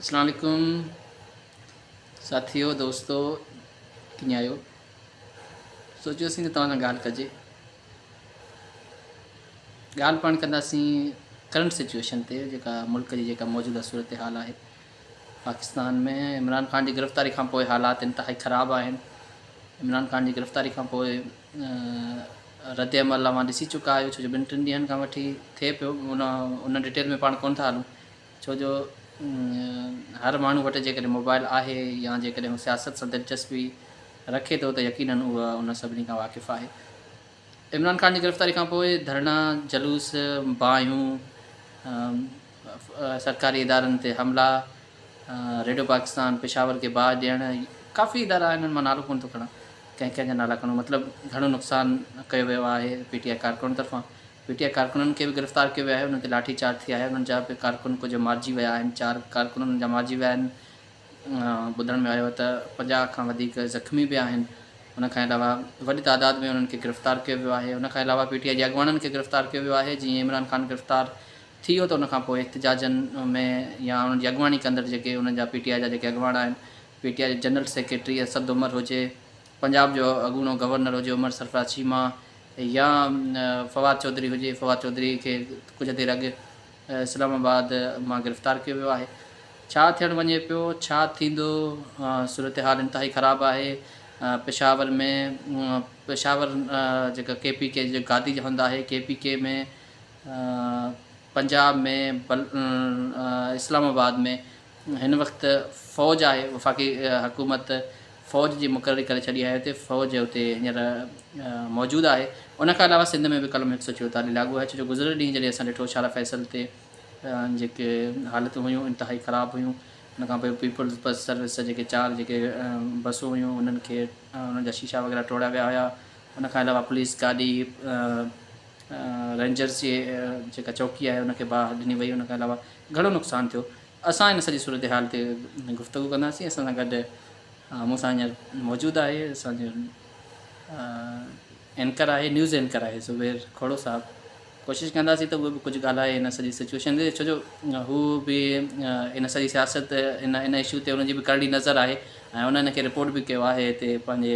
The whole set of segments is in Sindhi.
اسلام عليڪم ساٿيو دوستو ڪيئن آهيو سوچيوسين ته توهان سان ڳالهه ڪجي ڳالهه پاڻ ڪنداسين ڪرنٽ سچويشن تي جيڪا ملڪ جي جيڪا موجوده صورتحال آهي پاڪستان ۾ عمران خان جي گرفتاري کان پوء حالات انتهائي خراب آهن عمران خان جي گرفتاري کان پوء ردعمل اوهان ڏسي چڪا آهيو ڇو جو ٻن ٽن ڏينهن کان وٺي ٿئي پيو ان ان ڊيٽيل ۾ پاڻ ڪونه ٿا هلون ڇو جو هر ماڻهو وٽ جيڪڏهن موبائل آهي يا جيڪڏهن هو سياست سان دلچسپي رکي ٿو ته يقيناً هو ان سڀني کان واقف آهي عمران خان جي گرفتاري کانپوء ڌرڻا جلوس باهيون سرڪاري ادارن تي حملا، ريڊيو پاڪستان پشاور کي باهه ڏيڻ، ڪافي ادارا آهن انهن مان نالو ڪونه ٿو کڻان، ڪنهن ڪنهن جا نالا کڻون، مطلب گهڻو نقصان ڪيو ويو آهي پي ٽي آء ڪارڪنن طرفان، پي ٽي آء ڪارڪنن کي به گرفتار ڪيو ويو آهي، انهن تي لاٺي چارج ٿي آهي، انهن جا به ڪارڪن ڪجهه مارجي ويا آهن، چار ڪارڪن انهن جا مارجي ويا آهن، ٻڌڻ ۾ آيو ته پنجاهه کان وڌيڪ زخمي به آهن، ان کان علاوه وڏي تعداد ۾ انهن کي گرفتار ڪيو ويو آهي، ان کان علاوه پي ٽي آء جي اڳواڻن کي گرفتار ڪيو ويو آهي، جيئن عمران خان گرفتار ٿي ويو ته ان کان پوء احتجاجن ۾ يا انهن جي اڳواڻي ڪندڙ جيڪي انهن جا پي ٽي آء جا جيڪي اڳواڻ آهن پي ٽي آء جي جنرل سيڪريٽري اسد عمر هجي، پنجاب جو اڳوڻو گورنر هجي عمر سرفراز چيما يا فواد چوڌري هجي فواد چوڌري کي ڪجهه دير اڳ اسلام آباد مان گرفتار ڪيو ويو آهي ڇا ٿيڻ وڃي پيو ڇا ٿيندو صورتحال انتهائي خراب آهي پشاور ۾ پشاور جيڪا ڪي پي ڪي جي گادي جي هنڌ آهي ڪي پي ڪي ۾ پنجاب ۾ اسلام آباد ۾ هن وقت فوج آهي وفاقي حڪومت فوج جي مقرري ڪري ڇڏي آهي اتي فوج اتي هينئر موجود آهي ان کان علاوه سنڌ ۾ به قلم هڪ سو چويتاليهه لاڳو آهي ڇو جو گذريل ڏينهن جڏهن اسان ڏٺو شارا فيصل تي جيڪي حالتون هيون انتهائي خراب هيون ان کان پوء پيپلز بس سروس جا جيڪي چار جيڪي بسون هيون انهن کي انهن جا شيشا وغيره ٽوڙيا ويا هيا ان کان علاوه پوليس گاڏي رينجرز جي جيڪا چوڪي آهي ان کي باهه ڏني وئي ان کان علاوه گهڻو نقصان ٿيو اسان ان سڄي صورتحال تي گفتگو ڪنداسين اسان سان گڏ مون سان هينئر موجود آهي اسان جو اينڪر آهي نيوز اينڪر آهي زبير کهڙو صاحب ڪوشش ڪنداسين ته اهو به ڪجهه ڳالهائي هن سڄي سچويشن تي ڇو جو هو به ان سڄي سياست ان ان اشو تي ان جي به ڪرڙي نظر آهي ۽ ان ان کي رپورٽ به ڪيو آهي هتي پنهنجي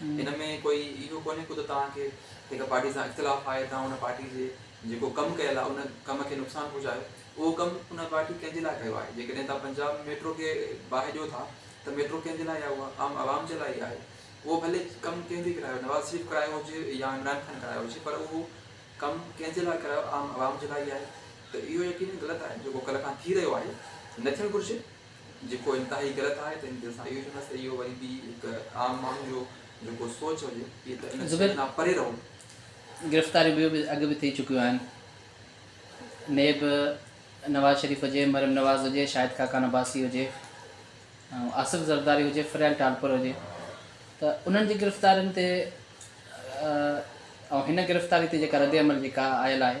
ان ۾ ڪوئي اهو ڪونهي ڪو ته توهان کي هڪ پارٽي سان اختلاف آهي توهان ان پارٽي جي جيڪو ڪم ڪيل آهي ان ڪم کي نقصان پهچايو اهو ڪم ان پارٽي ڪنهن جي لاء ڪيو آهي جيڪڏهن توهان پنجاب ميٽرو کي باهه ڏيو ٿا ته ميٽرو ڪنهن جي لاء آهي اها عام عوام جي لاء ئي آهي اهو ڀلي ڪم ڪنهن به ڪرايو نواز شريف ڪرايو هجي يا عمران خان ڪرايو هجي پر اهو ڪم ڪنهن جي لاء ڪرايو عام عوام جي لاء ئي آهي ته اهو يقينن غلط آهي جيڪو ڪلهه کان ٿي رهيو آهي نه ٿيڻ گهرجي جيڪو انتهائي غلط آهي ته هن تي اسان اهو چونداسين ته اهو وري به هڪ عام ماڻهو جو جيڪو سوچ هجي اهي ته ان شين کان پري رهو. گرفتاريون ٻيون به اڳ به ٿي چڪيون آهن نيب نواز شريف هجي مريم نواز هجي شاهد خاقان عباسي هجي ۽ آصف زرداري هجي فريال ٽالپر هجي ته انهن جي گرفتارين تي ۽ هن گرفتاري تي جيڪا رد عمل جيڪا آيل آهي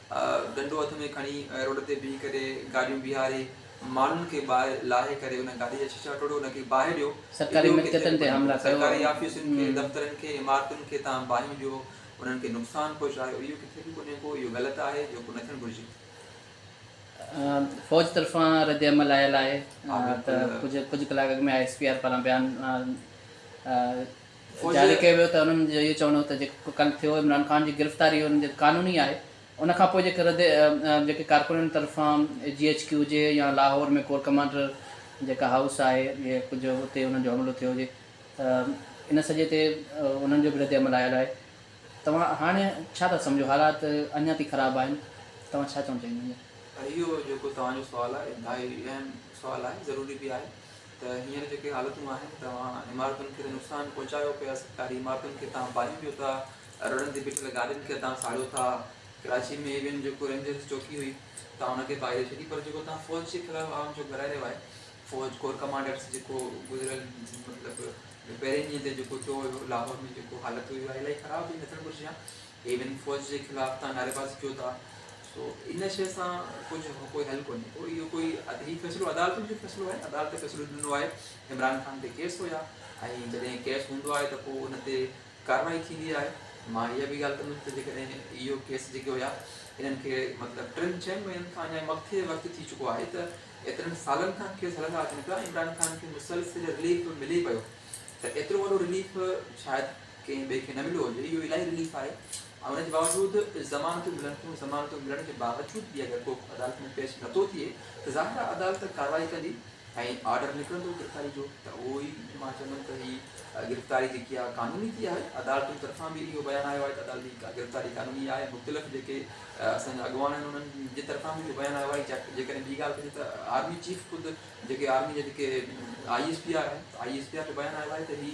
ڏنڊو هٿ ۾ کڻي روڊ تي بيهي ڪري گاڏيون بيهاري ماڻهن کي ٻاهر لاهي ڪري ان گاڏي جا شيشا ٽوڙيو ان کي باهه ڏيو سرڪاري ملڪيتن تي حملا ڪيو سرڪاري آفيسن کي دفترن کي عمارتن کي تان باهيون ڏيو انهن کي نقصان پهچايو اهو ڪٿي به ڪونهي ڪو اهو غلط آهي جيڪو نه ٿيڻ گهرجي. فوج طرفان ردعمل آيل آهي ته ڪجهه ڪجهه ڪلاڪ اڳ ۾ آء ايس پي آر پاران بيان جاري ڪيو ويو ته انهن جو اهو چوڻ هو ته جيڪو ڪل ٿيو عمران خان جي گرفتاري ان جي قانوني آهي ان کان پوء جيڪي رد جيڪي ڪارڪنن طرفان جي ايڇ ڪيو هجي يا لاهور ۾ ڪور ڪمانڊر جيڪا هائوس آهي يا ڪجهه اتي انهن جو حملو ٿيو هجي ته ان سڄي تي انهن جو به رد عمل آيل آهي توهان هاڻي ڇا ٿا سمجهو حالات اڃا تائين خراب آهن توهان ڇا چوڻ چاهيندا. اهو جيڪو توهان جو سوال آهي انتهائي اهم سوال آهي ضروري به آهي. ته هينئر جيڪي حالتون آهن توهان عمارتن کي ته نقصان پهچايو پيا سرڪاري عمارتن کي توهان ڀاڄيون ڏيو ٿا روڊن تي بيٺل گاڏين کي توهان ساڙيو ٿا ڪراچي ۾ ايوين جيڪو رينجرز چوڪي هئي توهان ان کي پائري ڇڏي پر جيڪو توهان فوج جي خلاف عوام جو گهرائي رهيو آهي فوج ڪور ڪمانڊرز جيڪو گذريل مطلب پهرين ڏينهن تي جيڪو ٿيو هيو لاهور ۾ جيڪو حالت هئي اها الائي خراب هئي نه ٿيڻ گهرجي ها ايون فوج جي خلاف تان نعري بازي ڪيو ٿا سو ان شئي سان ڪجهه ڪوئي حل ڪونهي ڪو اهو ڪوئي هي فيصلو عدالتن جو فيصلو آهي عدالت فيصلو ڏنو آهي عمران خان تي ڪيس هيا ۽ جڏهن ڪيس هوندو آهي ته پوء ان تي ڪارروائي ٿيندي آهي مان اها به ڳالهه ڪندم ته جيڪڏهن اهو ڪيس جيڪي هيا انهن کي مطلب ٽن چئن مهينن کان اڃا مٿي وقت ٿي چڪو آهي ته ايترن سالن کان ڪيس هلندا اچن پيا عمران خان کي مسلسل رليف ملي پيو ته ايترو وڏو رليف شايد ڪنهن ٻئي کي نه مليو هجي اهو الاهي رليف آهي ۽ ان جي باوجود ضمانتون ملن ٿيون ضمانتون ملڻ جي باوجود به اگر ڪو عدالت ۾ پيش نه ٿو ٿئي ته ظاهر آهي عدالت ڪارروائي ڪندي ۽ آرڊر نڪرندو گرفتاري جو ته اهو ئي مان چوندم ته هي گرفتاري جيڪي آهي قانوني ٿي آهي عدالتن طرفان به اهو بيان آيو آهي ته عدالتي گرفتاري قانوني آهي مختلف جيڪي اسان جا اڳواڻ آهن انهن جي طرفان به اهو بيان آيو آهي جيڪڏهن ٻي ڳالهه ڪجي ته آرمي چيف خود جيڪي آرمي جا جيڪي آئي ايس پي آر آهن آئي ايس پي آر جو بيان آيو آهي ته هي